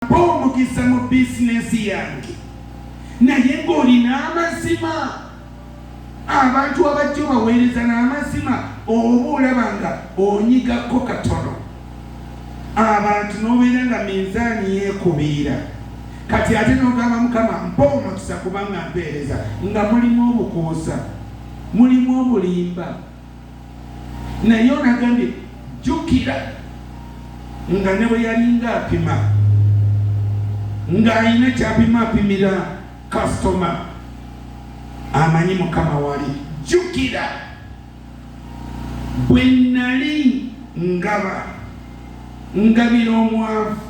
mpa omukisa mu bizinesi yange naye ng'olina amazima abantu abajja obaweereza n'amazima oba olaba nga onyigako katono abantu n'obeera nga minzaani yeekubiira kati ate n'ogamba mukama mpa omukisa kubanga mpeereza nga mulimu obukuusa mulimu obulimba naye ono agambye jjukira nga ne bwe yalinga apima ng'alina kyapima apimira kasitoma amanyi mukama wali jjukira bwe nnali ngaba ngabira omwavu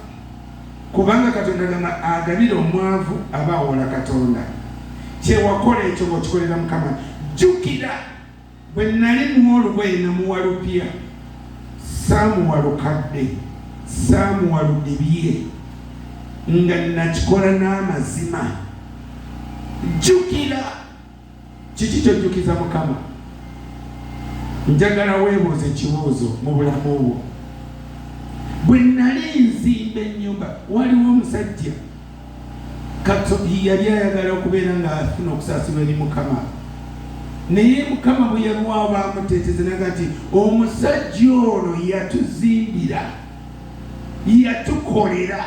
kubanga katonda gamba agabira omwavu aba awola katonda kyewakola ekyo bwokikolera mukama jjukira Bwe nnali muwa olugoye namuwa lupya, saamuwa lukadde, saamuwa ludibye, nga nnakikola n'amazima. Jjukira! Kiki ky'ojjukiza Mukama? Njagala weebuuze ekibuuzo mu bulamu bwo. Bwe nnali nzimba ennyumba, waliwo omusajja Katuhi yali ayagala okubeera ng'afuna okusaasirwa eri Mukama. Naye Mukama bwe yalwawo baamuteeteza naga nti omusajja ono yatuzimbira, yatukolera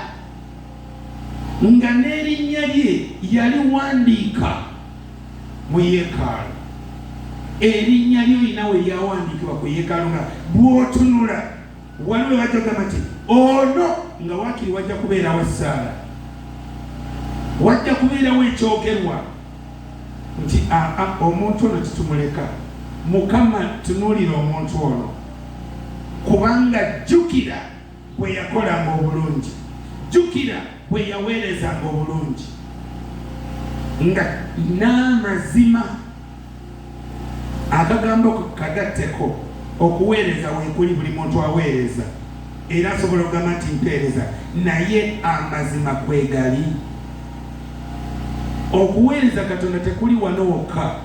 nga n'erinnya lye yaliwandiika mu yeekaalu. Erinnya lyo olina we lyawandiikibwa ku yeekaalu nga bw'otunula wano webajja kugamba nti ono nga wakiri wajja kubeerawo essaala wajja kubeerawo ekyogerwa nti aa omuntu ono titumuleka mukama tunuulira omuntu ono kubanga jjukira bwe yakolanga obulungi jjukira bwe yaweerezanga obulungi nga n'amazima Akagambo kagatteko, okuweereza weekuli buli muntu aweereza era asobola okugamba nti mpeereza naye amazima kwegali? Okuweereza Katonda tekuli wano wokka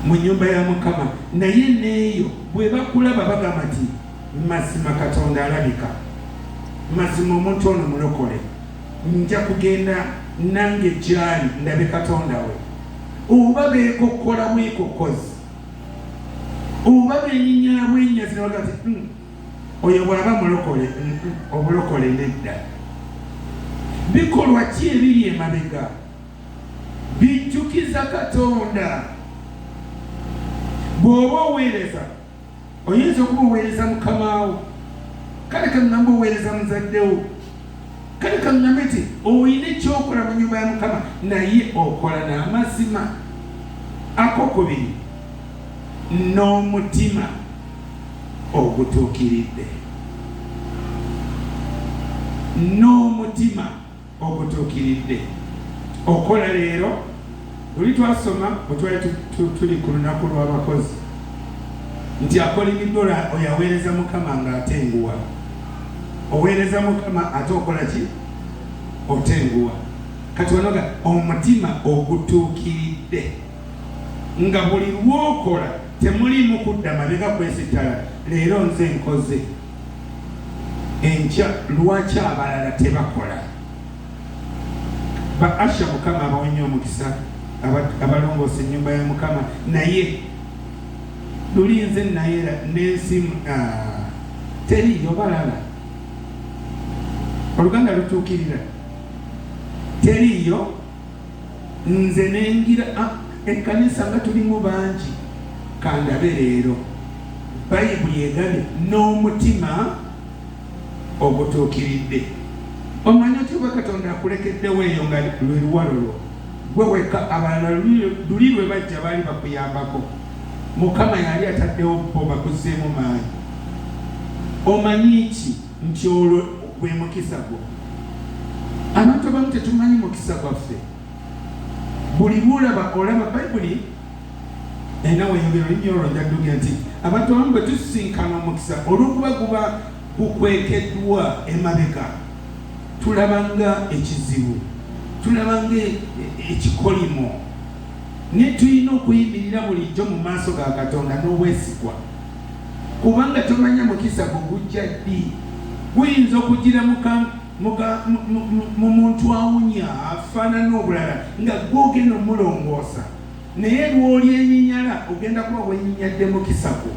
mu nyumba ya Mukama naye neeyo bwebakulaba bagamba nti mazima Katonda alabika, mazima omuntu ono mulokole, nja kugenda nange gyali ndabe Katonda we. oba beekokkola bwekokkozi oba benyinyala bwenyazi nabaga ti hmm, oyo bwaba mulokole hmm, obulokole nedda bikolwa ki ebiri emabega bijjukiza katonda bw'oba oweereza oyinza okuba oweereza mukamaawo kale kaŋŋamba oweereza muzaddewo kale kaŋŋambe nti olina ekyokola mu nyumba ya mukama naye okola n'amazima akokubiri n'omutima ogutuukiridde n'omutima ogutuukiridde okukola leero. Luli twasoma bwe twali tuli ku lunaku lw'abakozi nti akolimiddwa oyo aweereza Mukama ng'atenguwa. Oweereza Mukama ate okola ki? Otenguwa. Kati wanoga omutima ogutuukiridde nga buli lwokola temuliimu kudda mabega kwesittala, leero nze nkoze enkya lwaki abalala tebakola ba asha mukama abawonye omukisa abalongoosa enyumba ya mukama naye luli nze nayera nensimu ah, teri yobalala oluganda lutuukirira teriyo nze nengira ah, ekkanisa nga tulimu bangi kandabe leero bayibuli egane n'omutima ogutuukiridde omanya otya oba katonda akulekeddewo eyo nga lwe luwalo lwo gwe wekka abalala luli lwe bajja baali bakuyambako mukama yali ataddewo bo bakuzzeemu maanyi omanyi ki nti olwo gwe mukisa gwo. Abantu abamu tetumanyi mukisa gwaffe. Buli lw'olaba olaba Bayibuli erina weyogera olulimi olwo ojja kudugira nti abantu abamu bwe tusisinkana omukisa olw'okuba guba gukwekeddwa emabega tulaba nga ekizibu tulaba nga e, e, ekikolimo naye tulina okuyimirira bulijjo mu maaso ga katonda n'obwesigwa kubanga tomanya mukisa gwo gujja ddi. Guyinza okujjira mu muntu awunya, afaanana obulala nga ggwe ogenda omulongoosa, naye lw'olyenyinyala ogenda kuba wenyinyadde mukisa gwo.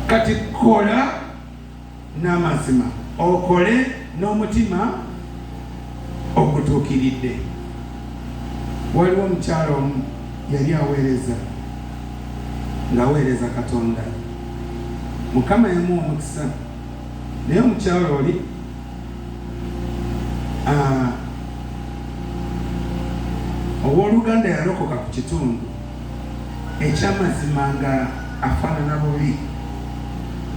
Kati kola n'amazima, okole n'omutima ogutuukiridde. Waliwo omukyala omu yali aweereza ng'aweereza Katonda. Mukama yamuwa omukisa, naye omukyala oli ah, ow'oluganda yalokoka ku kitundu eky'amazima nga afaanana bubi.